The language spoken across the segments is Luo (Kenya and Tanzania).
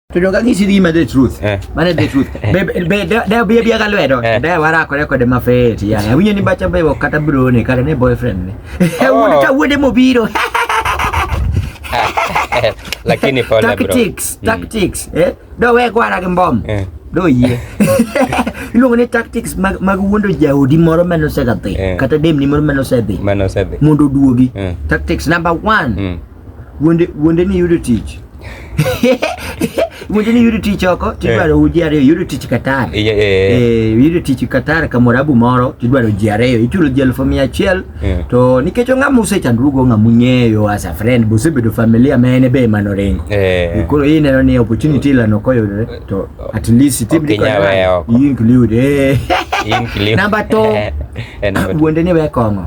Tudonga ngisi di ma the truth. Eh. Mana the truth. Eh. Be be da be be ka lwedo. Eh. Da wara ko rekode ma fet ya. Eh. Winyo ni bacha be kata bro ne kata ne boyfriend ne. Oh. Eh wude ta wude mo biro. Lakini pole bro. Tactics, mm. tactics. Eh? Do we gwara gi mbom. Eh. Do yie. Iluongo ni tactics mag mag wuondo jaodi moro ma nosedhi kata dem ni moro ma nosedhi. Ma nosedhi. Mondo duogi. Tactics number 1. wuonde wuonde ni yudo tich wuonde ni yudo tich oko tidwaro eh. ji ariyo yudo tich Qatar eh. eh, yudo tich Qatar kamorabu moro tidwaro ji ariyo ichulo ji elfu mia achiel to nikech ong'ama usechandrugo ong'ama ung'eyo as a friend bosebedo familia ma en be ema noringo koro iyi neno ni opportunity lano koyudore to at least timdikod include namba to wuonde ni wekong'o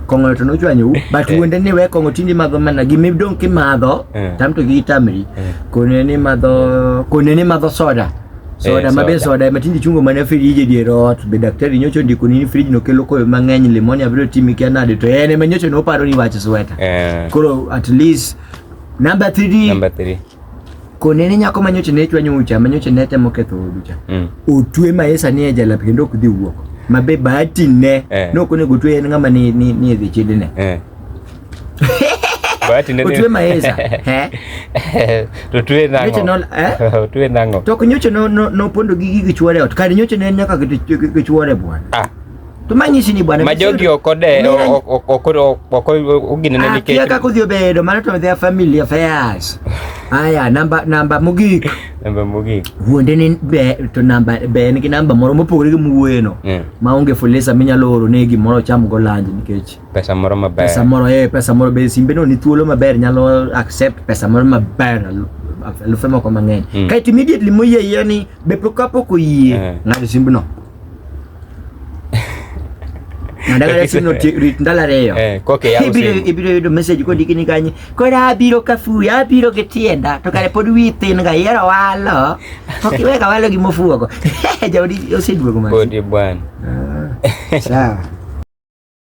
kong'o to nochwanyou but eh. wuonde ni we kong'o tindi madho mana gima idong' kimadho eh. tam to gi tamri eh. kone ni madho kone ni madho soda soda ma be soda ma tindi chungo mana friji dier ot be daktari nyocho ndiko ni friji no kelo koyo mang'eny limoni abiro timi kia nade to en ema nyocho no paro ni wach sweta koro at least number 3 number 3 konene nyako manyoche ne chwanyo ucha manyoche ne temo ketho odu cha mm. otwe maesa ni ejala kendo ok dhi wuok mabe bahati ne eh. no kone gotwe en ngama ni ni ni dhi chidi ne eh. bahati ne otwe maesa he to twe nango nyoche no eh twe nango to nyoche no no pondo gi gi chwore ot kar nyoche ne nyaka gi chwore bwana ah tumanyicini bwana majogi okode oginene nikech aka kodhi obedo mano to their family affairs aya namba namba mogik namba mogik wuonde ni be to namba be en gi namba moro mopogore gi muwuoyeno yeah. maonge fulisa minyalo oro ne gimoro ocham go lanji nikech pesa moro maber pesa moro eh pesa moro be simbe no ni thuolo maber nyalo accept pesa moro maber alufe moko mang'eny mm. kaeto immediately moyie yie ni be pok kapok oyie yeah. ng'ado simbno ndagala sino ndala reyo eh, ibiro yudo message kodiki ni kanye koro abiro kafuyo abiro gi tienda to kare pod wi thin ga yero walo ok iwe ka walo gi mofuogo jaodi oseduogo mapodi bwana ah, sawa